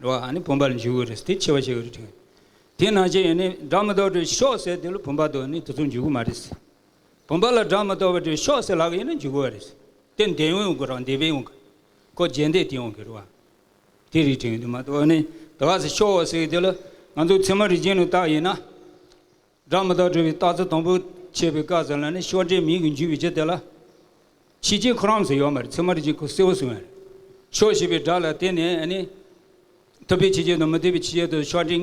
འགྲོ་བ་ནི་བུམ་པ་ལ་འཇུག་གི་རེད་དེ་ཆེ་བ་ཞིག་རེད་དྲན། དེས་ན་ཅི་ཡིན་ནི་སྒྲ་མི་རྟོག་དྲན་ཤོག་ཟེར་དེ་ལ་བུམ་པ་དང་ནི་དེ་ཚོ་འཇུག་གི་མ་རེད། བུམ་པ་ལ་སྒྲ་མི་རྟོག་པ་དྲན་ཤོག་ཟེར་ལག་ཡིན་ན་འཇུག་གི་བ་རེད། དེ་འདས་ཡོང་གི་རང་འདས་པས་ཡོང་གི། ཁོ་རྗེས་འདས་དེ་ཡོང་གི་རེད་བ། དེ་རིགས་དྲན་གི་འདུག་མ་གཏོགས་ནི་དེ་བ་ཟེར་ཤོག་ཟེར་དེ་ལ་ང་ཚོ་ཚད་མ་རིག་འབྱེད་ནི་བཏགས་ཡིན་ན། སྒྲ་མི་རྟག་སྒྲོལ་བའི་རྟགས་རྩ་དང་པོ། ཅེས་པའི་བཀའ་ཟེར་ལ་ནི་ཤོག་དྲིལ་མིང་གིས་འཇུས་པའི་རྗེས་དེ་ལ། ཕྱི་དཀྱིལ་ཁོ་རམས་སུ་ཡོད་མ་རེད་ཚེར་མ་རེ་གཅིག་ཁོ་སེའུ་སུ་ཡོད། ཤོག་ཞེས་པའི་སྒྲ་ལ་བརྟེན་ནས་ནི། ཐུབ་པའི་ཕྱི་རྒྱལ་དང་མི་ཐུབ་པའི་ཕྱི་རྒྱལ་དུ་ཤོག་དྲིལ་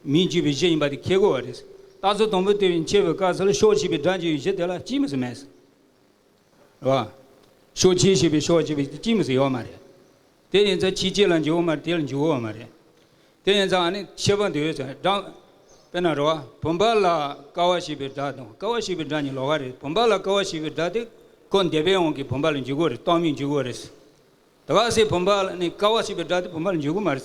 མིང་འཇུས་པའི་རྗེས་ཡིན་པ་དེ་ཁས་གོ་བ་རེད། རྟགས་རྩ་དང་པོ་དེ་བཞིན་ཅེས་པའི་བཀའ་ཟེར་ལ་ཤོག་ཞེས་པའི་སྒྲ་འཇུས་པའི་རྗེས་དེ་ལ་ཅིས་མི་སུ་མེད། རོ། ཤོག་ཆེན་ཞེས་པའི་ཤོག་ཅེས་པའི་ཅིང་མི་ཟེར་ཡོད་མ་རེད། དེ་ཡིན་ཚ་ཁྱི་ཅེས་ལ་འཇུག་མ་དེ་ལ་འཇུག་འོས་མ་རེད། དེ་ཡིན་ཚ་ནི་ཤེས་པ་འདོད་ཚ་སྒྲ། དཔེར་ན་རོ། བུམ་པ་ལ་ཀ་བ་ཞེས་པའི་སྒྲ་དང་ཀ་བ་ཞེས་པའི་སྒྲ་གཉིས་ལོགས་ཀ་རེད་བུམ་པ་ལ་ཀ་བ་ཞེས་པའི་སྒྲ་དེ་ཁོ་འདས་པའི་དབང་གིས་བུམ་པ་ལ་འཇུག་གོ་རེད་རྟགས་མི་འཇུག་གོ་རེད། དེ་ག་ཟེ་བུམ་པ་ལ་ནི་ཀ་བ་ཞེས་པའི་སྒྲ་དེ་བུམ་པ་ལ་འཇུག་གོ་མ་རེད།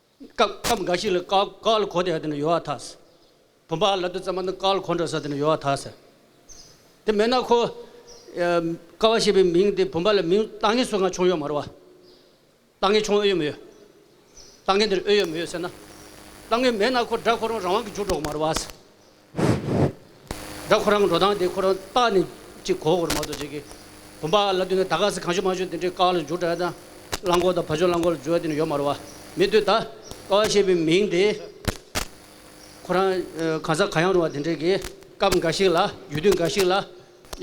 སྐབས་འགའ་ཞིག་ལ་ཀག་ལ་གོ་དེ་ནས་ཡོ་ཨ་ཐཱས། བུམ་པ་ལ་དུ་ཙམ་པ་ནི་ཀག་ལ་གོ་འགྲོ་ས་དེ་ནས་ཡོ་ཨ་ཐཱས། དེ་མེད་ན་ཁོ། ཀ་བ་ཞེས་པའི་མིང་དེ་བུམ་པ་ལ་མིང་བཏགས་ངེས་སུ་འང་ཆུང་ཡོད་མ་རུང་བ། བཏགས་ངེས་ཆུང་ཨོ་ཡོད་མི་ཡོད། བཏགས་ངེས་འདིར་ཨོ་ཡོད་མི་ཡོད་ཟེར་ན། བཏགས་ངེས་མེད་ན་ཁོ་སྒྲ་གོ་རུང་རང་དབང་གིས་འཇུག་འགྲོ་གི་མ་རུང་བ། ད་ཁོ་རང་གི་འགྲོ་སྟངས་དེ་ཁོ་རང་རྟག་ནས་ཅིག་གོ་གོ་རུ་མ་གཏོགས་ཅིག་གི། བུམ་པ་ལ་ལྟོས་ནས་ད་ག་ཟེ་གང་བྱོས་མ་བྱོས་དེ་འདྲའི་ཀག་ལ་འཇུག་གྲ་དང། རླངས་འཁོར་དང་བ་བྱོས་རླངས་འཁོར་ལ་འཇུག་གྲ་དེ་འདྲ་ཡོད་མ་རུ་བ། མི་ལྟོས་ད། ཀ་བ་ཞེས་པའི་མིང་དེ། ཁོ་རང་གང་ས་གང་ཡང་རུ་བ་དེ་འདྲའི་གི། སྐབས་འགའ་ཞིག་ལ། ཡུལ་དུས་འགའ་ཞིག་ལ།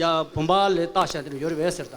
ཡ། བུམ་པ་ལས་རྟག་བྱ་དེ་འདྲ་ཡོད་རེད་བས་ཟེར་ད།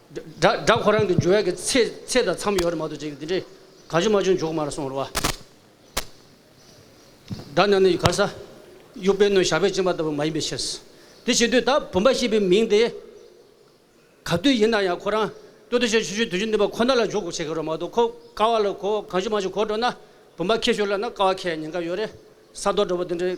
སྦྲག་ཁོ་རང་གི་འཇུ་བའི་གི་ཚེ་ཚེ་དང་མཚམས་ཡོད་རེད་མ་གཏོགས་ཅིག་འདི་འདྲའི་ག་ཅུ་མ་ཅུ་འཇོག་མ་རེད་སོང་རེད་བ། སྦྲག་ན་ནི་གར་ས་དབྱུག་པའི་སྣོད་ཞགས་པས་བཅིངས་པ་ལྟ་བུ་མ་ཡིན་པའི་ཕྱིར། དེ་བྱེད་དུས་ད་བུམ་པ་ཞེས་པའི་མིང་དེ་ག་དུས་ཡིན་ན་ཡང་ཁོ་རང་སྟོད་དུ་ཆོས་ཆོས་ཆོས་དུས་ཆོས་འདི་པ་ཁོ་ན་ལ་འཇོག་དགོས་བྱེད་གི་རེད་མ་གཏོགས་ཁོ་ཀ་བ་ལ་གོ་ག་ཅུ་མ་ཅུ་གོ་འགྲོ་ན་བུམ་པ་ཁེ་ཤོར་ལ་ན་ཀ་བ་ཁེ་ཡ་ཉེན་ཁ་ཡོད་རེད་ས་རྡོ་འདྲ་བོ་འདི་འདྲའི་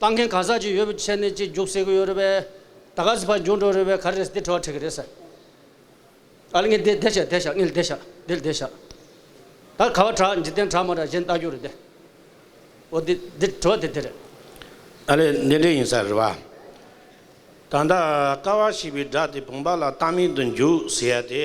བཏང་མཁན་གང་ཟག་ཅིག་ཡོད་པའི་ཆེད་ནས་གཅིག་རྒྱུགས་བསད་གི་ཡོད་རེད་པས། ད་ག་ཟི་ཕར་འགྱུར་འགྲོ་རེད་པས་ག་རེ་རེད་འདི་ཁྲོ་བ་ཁྲེག་གི་རེད་ཟེར། ཨ་ལི་ངས་འདི་བདེ་བྱས་བདེ་བཞག་ངས་འདི་བཞག་འདི་བདེ་བཞག། ད་ག་བ་དྲག་འཇིག་རྟེན་དྲག་མ་དྲག་གཞན་ལྟ་རྒྱུ་རེད་དེ། འོ་འདི་འདི་ཁྲོ་བ་དེ་དེ་རེད། ཨ་ལི་འདི་འདི་ཡིན་ས་རེད་པ། ད་ད་ག་བ་ཞིག་པའི་སྒྲ་དེ་བུང་བ་ལ་གཏམ་མིང་དུ་འཇུག་ཟེར་ཡ་དེ།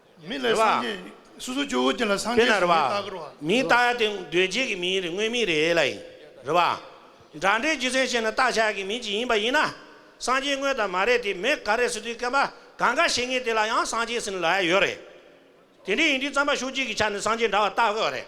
མི་ལས་སངས་རྒྱས་ཡིན། སོ་སོ་སྐྱེ་བོ་དེ་ལ་སངས་རྒྱས་སུ་མི་བཏགས་རོ། མི་བཏགས་ཡ་དེ་འདོད་རྒྱལ་གྱི་མིའི་རིགས་དངོས་མིའི་རིགས་ལ་ཡིན། རེད་པ། འདྲ་འདྲའི་རྒྱུ་མཚན་བཤད་ན་བཏགས་བྱ་གི་མི་ཅིག་ཡིན་པ་ཡིན་ན། སངས་རྒྱས་དངོས་དང་མ་རེད་དེ་མི་ག་རེ་སུ་དུས་སྐལ་པ་གང་ག་བྱེད་ངེས་དེ་ལ་ཡང་སངས་རྒྱས་ཟིན་ལ་ཡོད་རེད། དེ་འདྲའི་ཡིན་དུས་རྩམ་པ་ཤོག་གཅིག་གི་ཆ་ནས་སངས་རྒྱས་འདྲ་བ་བཏགས་དགོས་རེད།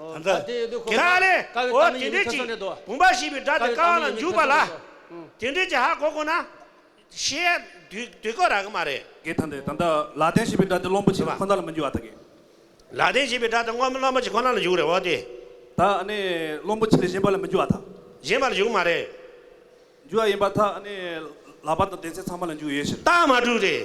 དམ་བཅའ། དེ་དག་ལས། འོ་དེ་འདྲས་ཀྱི། བུམ་པ་ཞེས་པའི་སྒྲ་དེ་རྐང་ལ་འཇུག་པ་ལ། དེ་འདྲས་ཀྱི་ཧ་གོ་དགོས་ན། ཤེས་ཡ། དུས་གོ་རག་གི་མ་རེད། གི་དང་དེ་དང་དག་ལ་ལྡན་ཞེས་པའི་སྒྲ་དེ་བློན་པོ་ཆེ་ཁོ་ན་ལ་མི་འཇུག་ཨ་ཐ་གི། ལ་ལྡན་ཞེས་པའི་སྒྲ་དེ་བློན་པོ་ཆེ་ཁོ་ན་ལ་འཇུག་རེད་འོ་དེ། དག་ནི་བློན་པོ་ཆེ་ལས་གཞན་པ་ལ་མི་འཇུག་ཨ་ཐ། གཞན་པ་ལ་འཇུག་གི་མ་རེད། འཇུག་ཡ་ཡིན་པ་དག་ནི། ལག་པ་དང་གདན་སའི་ཚང་མ་ལ་འཇུག་ཡོད་ཕྱིར། རྟགས་མ་དྲུག་རེད།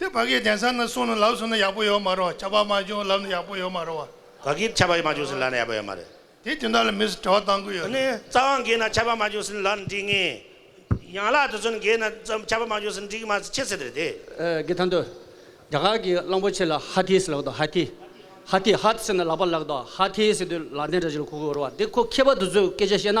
དེ་བག་གི་དན་ས་ན་སོང་ནས་ལབ་སོང་ན་ཡག་པོ་ཡོད་མ་རོ་བྱ་བ་མ་བྱུང་ལབ་ན་ཡག་པོ་ཡོད་མ་རོ་བ། བག་གིས་བྱ་བ་མ་བྱུང་ཟིན་ལབ་ན་ཡག་པོ་ཡོད་མ་རེད། དེ་དེ་འདྲ་ལ་མི་སེར་དྲ་བ་བཏང་དགོས་ཡོད་རེད། རྩ་བ་འགས་ན་བྱ་བ་མ་བྱུང་ཟིན་ལབ་ན་འགྲིག་ངེས། ཡང་ལ་དེ་ཚོན་འགས་ན་བྱ་བ་མ་བྱུང་ཟིན་འགྲིག་གི་མ་རེད་ཁྱེད་ཟེར་རེད་དེ། གི་ཐང་དུ། རྒྱ་གར་གི་གླང་པོ་ཆེ་ལ་ཧ་ཐི་ཟེར་ལགས་དོ་ཧ་ཐི། ཧ་ཐི་ཧ་ཟེར་ན་ལག་པ་ལགས་དོ་ཧ་ཐི་ཟེར་དུས་ལག་ལྡན་དྲ་བྱིས་ལ་ཁུག་ཁུག་འོར་བ་འདི་ཁོ་མཁས་པ་དེ་ཚོས་སྐད་ཆ་བཤད་ན་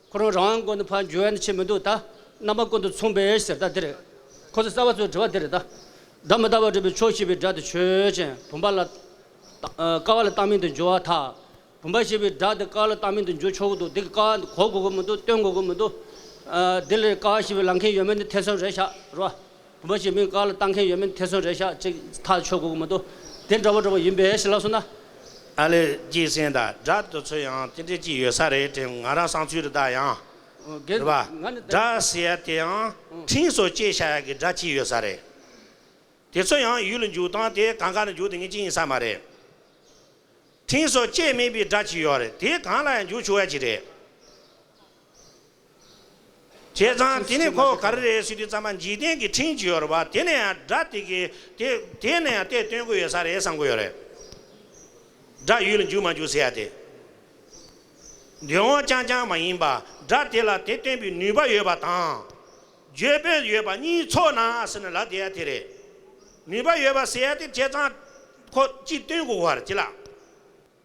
ཁོ་རང་རང་དབང་དགོན་དུ་ཕར་འབྱོར་ཡ་ཆེ་མི་འདུག་ད། རྣམ་པ་ཀུན་ཏུ་མཚུངས་པའི་ཟེར་ལྟ་འདིར། ཁོ་ཚོ་རྩ་བ་ཚོའི་དྲི་བ་འདིར་ད། སྒྲ་མི་རྟག་པར་སྒྲུབ་པའི་ཕྱོགས་ཞེས་པའི་སྒྲ་དེ་ཆོས་ཅན། བུམ་པ་ལ། ཀ་བ་ལ་བཏགས་མིང་དུ་འགྱུར་བ་དག། བུམ་པ་ཞེས་པའི་སྒྲ་དེ་ཀ་བ་ལ་བཏགས་མིང་དུ་འགྱུར་ཆོག་གི་འདུག་འདི་གི་ཀ་བ་གོ་དགོས་ཀྱི་མི་འདུག་སྟོན་དགོས་ཀྱི་མི་འདུག། འདི་ལས་ཀ་བ་ཞེས་པའི་ལམ་མཁན་ཡོད་མེད་ནི་ཐེ་ཚོམ་རེད་ཤག་རོགས། བུ་མོ་ཞིག་མིང་དཀར་ལ་བཏགས་མཁན་ཡོད་མིན་དེ་ཚོ་རེད་ཤག་ཅིག་ཐག་ཆོད་གོ་གི་མི་འདུག་དེ་འདྲ་བོ་འདྲ་བོ་ཡིན་པས་ཞེས་ལབ་སོང་ན། ཨ་ལེ་སྐྱིད་སེང་དང་སྒྲ་དེ་ཚོ་ཡང་དེ་འདྲས་ཅིག་ཡོད་ས་རེད་དྲན་ང་རང་སང་ཚུལ་རེ་ད་ཡང། རེད་པ། སྒྲ་ཟེར་ཡ་དེ་ཡང་ཕྲིན་སོ་བཅད་བྱ་ཡ་གི་སྒྲ་ཅིག་ཡོད་ས་རེད། དེ་ཚོ་ཡང་ཡུལ་ལ་འཇུག་སྟངས་དེ་གང་ག་ནས་འཇུག་དེ་ངས་ཅི་ཡིན་ས་མ་རེད། ཕྲིན་སོ་བཅད་མེད་པའི་སྒྲ་ཅིག་ཡོད་རེད་དེ་གང་ལ་ཡང་འཇུག་ཆུག་ཡ་ཅིག་རེད། བྱས་ཙང་དེ་ནི་ཁོ་ག་རེ་རེད་སྲིད་དུས་ཙམ་པ་འཇིག་རྟེན་གྱི་འཕྲིན་བཅོལ་བ་དེ་ནས་ཡང་དགྲ་དེ་གི་དེ་དེ་ནས་ཡང་དེ་སྟོན་གི་ཡོད་ས་རེད་བསམ་གི་ཡོད་རེད། དགྲ་ཡུལ་འཇུག་མ་འཇུག་ཟེར་ཡ་དེ། འདོད་འོང་རྐྱང་རྐྱང་མ་ཡིན་པ་དགྲ་དེ་ལ་དེ་སྟོན་པའི་ནུས་པ་ཡོད་པ་དང། འཇོན་པོ་ཡོད་པ་གཉིས་ཚོགས་ན་ཟེར་ན་ལ་དེ་ཡ་དེ་རེད། ནུས་པ་ཡོད་པ་ཟེར་ཡ་དེ་བྱས་ཙང་ཁོ་ཅི་སྟོན་གི་ཡོད་རེད་ཅི་ལགས།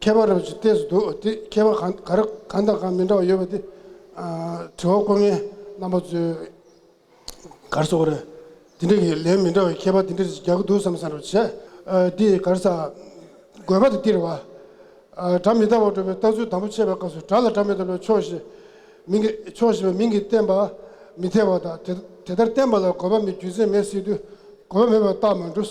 མཁས་པ་རབ་ཅིག་ལྟས་སུ་འདུག་དེ་མཁས་པ་གར་གང་དང་གང་མི་འདྲ་བ་ཡོད་པ་དེ། དྲི་བ་བཀོད་མཁན་རྣམ་པ་ཚོས་གར་སོགས་རེད། དེ་འདྲ་གི་ལན་མི་འདྲ་བའི་མཁས་པ་དེ་འདྲ་ཞིག་རྒྱག་གི་འདུག་བསམ་བསམ་རེ་བྱས། འདི་གར་ས། དགོས་པ་དེ་སྟེར་བ། སྒྲ་མི་རྟག་པར་སྒྲུབ་པའི་ལྟ་ཚུལ་དང་པོ་འཆད་པའི་སྐབས་སུ་སྒྲ་ལ་སྒྲ་མི་རྟག་པའི་ཕྱོགས་ཞེས་མིང་གི་ཕྱོགས་ཞེས་པའི་མིང་གིས་བསྟན་པ་མི་འཐད་པ་དང་དེ་ལྟར་བསྟན་པ་ལ་དགོས་པ་མེད་རྒྱུ་མཚན་མེད་སྲིད་དུས་དགོས་པ་མེད་པར་རྟགས་མ་འགྲུབ།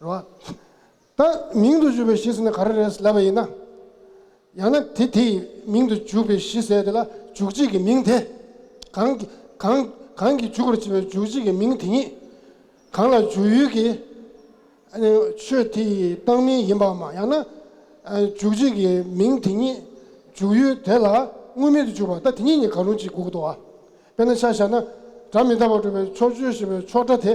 རོ། ད་མིང་དུ་བྱུགས་པའི་གཞི་ཟེར་ན་ག་རེ་རེད་ལབ་པ་ཡིན་ན། ཡང་ན་དེ་དེ་ཡི་མིང་དུ་བྱུགས་པའི་གཞི་ཟེར་དེ་ལ་འཇུག་བྱེད་ཀྱི་མིང་དེ། གང། གང། གང་གིས་འཇུག་པར་བྱེད་པའི་འཇུག་བྱེད་ཀྱི་མིང་དེ་ཉིད། གང་ལ་འཇུག་ཡུལ་གྱི། ཆོས་དེ་ཡི་བཏགས་མིང་ཡིན་པའམ་ཡང་ན། འཇུག་བྱེད་ཀྱི་མིང་དེ་ཉིད། འཇུག་ཡུལ་དེ་ལ་དངོས་མིང་དུ་འཇུག་པ་ད་དེ་ཉིད་ནི་གང་རུང་གཅིག་གུ་གུ་དོ། དཔེར་ན་ཆ་བཞག་ན། སྒྲ་མི་རྟག་པར་སྒྲུབ་པའི་ཕྱོགས་ཆོས་ཞེས་པའི་ཕྱོགས་སྒྲ་དེ།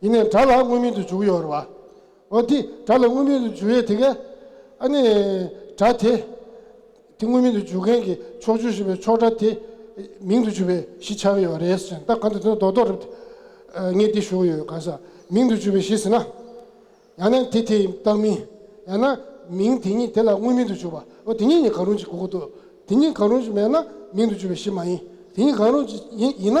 ཡིན་ནས་དགྲ་ལ་དངོས་མིན་དུ་འཇུག་ཡོད་རེད་བ། འོ་དེ་དགྲ་ལ་དངོས་མིན་དུ་འཇུག་ཡོད་དེ་གས། ཨ་ནི། དགྲ་དེ། དེ་དངོས་མིན་དུ་འཇུག་མཁན་གྱི་ཕྱོགས་བཅུར་ཞུགས་པའི་ཕྱོགས་དགྲ་དེ། མིང་དུ་འཇུག་པའི་གཞི་ཆགས་ཡོད་རེད་ཟེར་ན་ད་ག་འདི་དོན་རྡོག་རྡོག་རེད། ངས་འདི་ཞུ་གི་ཡོད་ག་ས་མིང་དུ་འཇུག་པའི་གཞི་ཟེར་ན། ཡང་ན་དེ་དེའི་རྟགས་མིན། ཡང་ན། མིང་དེ་ཉིད་དེ་ལ་དངོས་མིན་དུ་འཇུག་པ། འོ་དེ་གཉིས་ནི་གང་རུང་ཅིག་དགོས་ཀྱི་འདུག་དེ་གཉིས་གང་རུང་ཅིག་མེད་ན་མིང་དུ་འཇུག་པའི་གཞི་མ་ཡིན། དེ་གཉིས་གང་རུང་ཅིག་ཡིན་ན།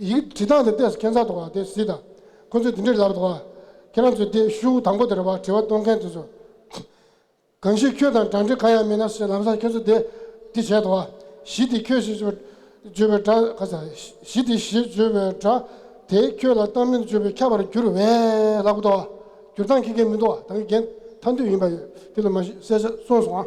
ཡིག་འབྲི་སྟངས་དེ་ལྟས་སུ་ཁྱད་མཚར་དུ་བ་དེ་གཟིགས་དང། ཁོ་ཚོས་དེ་འདྲའི་ལབ་དང་བ། ཁྱེད་རང་ཚོས་དེ་ཤུགས་དང་པོ་དེར་བ་དྲི་བ་གཏོང་མཁན་དེ་ཚོ། གང་ཞིག་ཁྱོད་དང་སྦྲགས་འབྲེལ་གང་ཡང་མེད་ན་ཞེས་ལམ་སང་ཁྱོད་ཚོ་དེ་འདི་བྱས་དང་བ། གཞི་དེ་ཁྱོད་ཞེས་བརྗོད་པའི་སྒྲ། ཁ་ཚ། གཞི་དེ་ཞེས་བརྗོད་པའི་སྒྲ། དེས་ཁྱོད་ལ་གཏམ་གླེང་བརྗོད་པའི་ཁྱབ་པར་འགྱུར་བས་ལ་གོ་དང་བ། འགྱུར་སྟངས་ཁྱི་རྒན་མི་འདུག་བ་དང་གི་རྒན་ཐ་འདུས་ཡིན་པ་ཡོད་དེ་ལ་མ་གཞི་གསལ་ཆ་སོང་སོང་ཨ།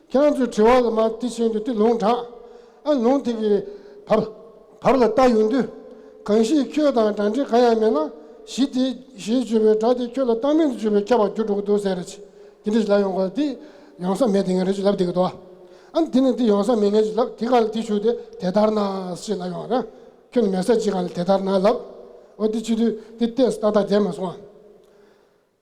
ཁྱེད་རང་ཚོའི་དྲི་བ་ལ་མ་དེ་བཞིན་དུ་དེ་ལུང་དྲངས། ཨ་ལུང་དེ་གི་བར་བར་ལ་བལྟ་ཡོང་དུས། གང་ཞིག་ཁྱོད་དང་སྒྲ་འདྲེས་གང་ཡང་མེད་ན། གཞི་དེ་ཞེས་བརྗོད་པའི་སྒྲ་དེ་ཁྱོད་ལ་བཏགས་མིང་དུ་བརྗོད་པས་ཁྱབ་པར་གྱུར་འགྲོ་གི་འདུག་ཟེར། དེ་འདྲ་ཞིག་ལབ་ཡོང་གི་དེ་ཡོང་ས་མེད་དེ་ངས་རེད་ཅེས་ལབ་བསྡད་ཀྱི་འདུག་ཨ། དེ་ནས་དེ་ཡོང་ས་མེད་ངས་ཅེས་ལབ་དེ་གང་ལ་དེ་ཞུས་ཏེ་དེ་ལྟར་ན་ཞེས་ལབ་ཡོང་ཨ། ཁྱོད་ནི་མེད་ས་ཅི་གང་ལ་དེ་ལྟར་ན་ལབ། འོ་དེ་ཕྱི་དུས་དེ་བལྟས་སུ་ཏག་ཏག་བསྡད་མ་སོང་ཨ།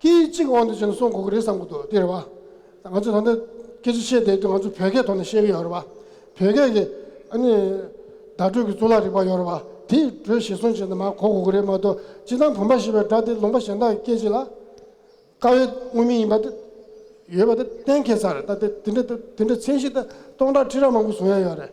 སྐད་ཡིག་གཅིག་གི་དབང་དུ་བྱས་ནས་སོང་དགོས་ཀྱི་རེད་བསམ་གྱི་འདུག་དེ་རེད་བ། ང་ཚོས་ད་ལྟ་སྐད་ཅིག་བཤད་བསྡད་དུས་ང་ཚོ་བོད་སྐད་ཐོག་ནས་བཤད་ཀྱི་ཡོད་རེད་བ། བོད་སྐད་ཀྱི་ཨ་ནི་བརྡ་སྤྲོད་ཀྱི་གཙུག་ལག་རིག་པ་ཡོད་རེད་བ། དེ་དྲོད་གཞིར་བཟུང་བྱས་ནས་མར་གོ་དགོས་ཀྱི་རེད་མ་གཏོགས་སྤྱིར་བཏང་བུམ་པ་ཞེས་པའི་སྒྲ་དེ་ལུང་པ་གཞན་དག་གི་སྐད་ཅིག་ལ་དཀའ་བའི་དངོས་མིང་ཡིན་པ་དེ་ཡོད་པ་དེ་གཏན་འཁེལ་ཚར་རེད་ད་དེ་འདྲ་མཚན་གཞི་ལྟ་སྟོང་ཕྲག་ཁྲི་ཕྲག་མང་པོ་བཟུང་ཡ་ཡོད་རེད།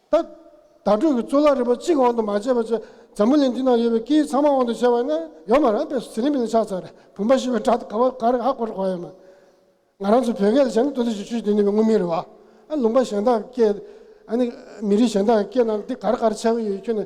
ད། དྭ་ཕྲུག་གི་གཙུག་ལག་རིན་པོ་གཅིག་དབང་དུ་མ་བྱས་པ་བཅས་འཛམ་བུ་གླིང་འདི་ན་ཡོད་པའི་སྐད་ཡིག་ཚང་མ་དབང་དུ་བྱས་པ་ནི་ཡོད་མ་རང་པས་སུ་ཟི་ལིང་པི་ལིང་ཕྱག་འཚལ་རེད་བུམ་པ་ཞེས་པའི་སྒྲ་དགའ་བ་འགའ་རེ་ཧ་གོ་རེ་གོ་ཡོད་མོད། ང་རང་ཚོའི་བོད་སྐད་ལ་བྱས་ན་དོན་དུ་ཞིག་ཆོས་འདི་ནི་མི་ངོ་མི་རི་བ། ཨ་ལུང་པ་གཞན་དག་གི་སྐད། ཨ་ནི་མི་རིགས་གཞན་དག་གི་སྐད་རྣམས་འདི་ག་རེ་ག་རེ་ཆགས་ཀྱི་ཡོད་ཁྱོད་ནི།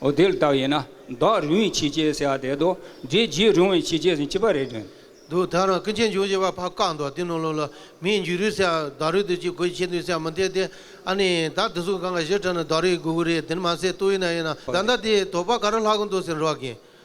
འོ་དེ་ལྟ་ཡིན་ན་བདག་རུང་བའི་ཕྱིས་སྐྱེས་ཟེར་བ་དེ་རྡོ་རྗེ་རྗེ་རུང་བའི་ཕྱིས་སྐྱེས་ཟེར་ཅི་པ་རེད་དྲན། འདུག་ད་རུང་སྐུ་མཆེད་འབྱུང་བཞི་པ་ཕ་བཀའ་འདུག་བསྟི་གནང་ལོ་ལ་མིའི་མཇུག་རུས་ཟེར་བ་བདག་རུས་དུས་གཅིག་གོས་ཆེ་འདུག་ཟེར་བ་མི་འཐད་དེ། ཨ་ནི། ད་དེ་ཚོ་གང་ག་གཞིར་དྲན་ན་བདག་རུས་གུ་གུ་རེད་དེ་ནི་མ་ཟད་ལྟོ་ཡུ་ན་ཡིན་ན་ད་ལྟ་དེའི་དོགས་པ་ག་རེ་ལྷག་གི་འདུག་ཟེར་རོགས་གིན།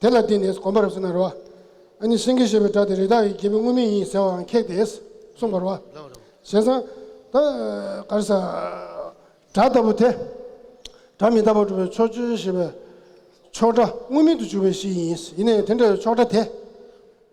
དེ་ལ་བརྟེན་ནས་གོམས་པར་བྱེད་ན་རོ། ཨ་ནི་སེང་གེ་ཞེས་པའི་སྒྲ་དེ་རི་དྭགས་ཡི་གེ་མི་མངོན་མིན་ཡིན་ཟེར་བའང་ཁེགས་ཏེ། གསུངས་པར། བྱས་ཙང། ད། གར་ས། སྒྲ་ལྟ་བུ་དེ། སྒྲ་མི་རྟག་པར་གྲུབ་པའི་ཕྱོགས་ཆོས་ཞེས་པའི། ཕྱོགས་སྒྲ་དངོས་མེད་དུ་གྱུར་པའི་གཞི་ཡིན། ཡིན་ནས་དེ་འདྲ་བའི་ཕྱོགས་སྒྲ་དེ།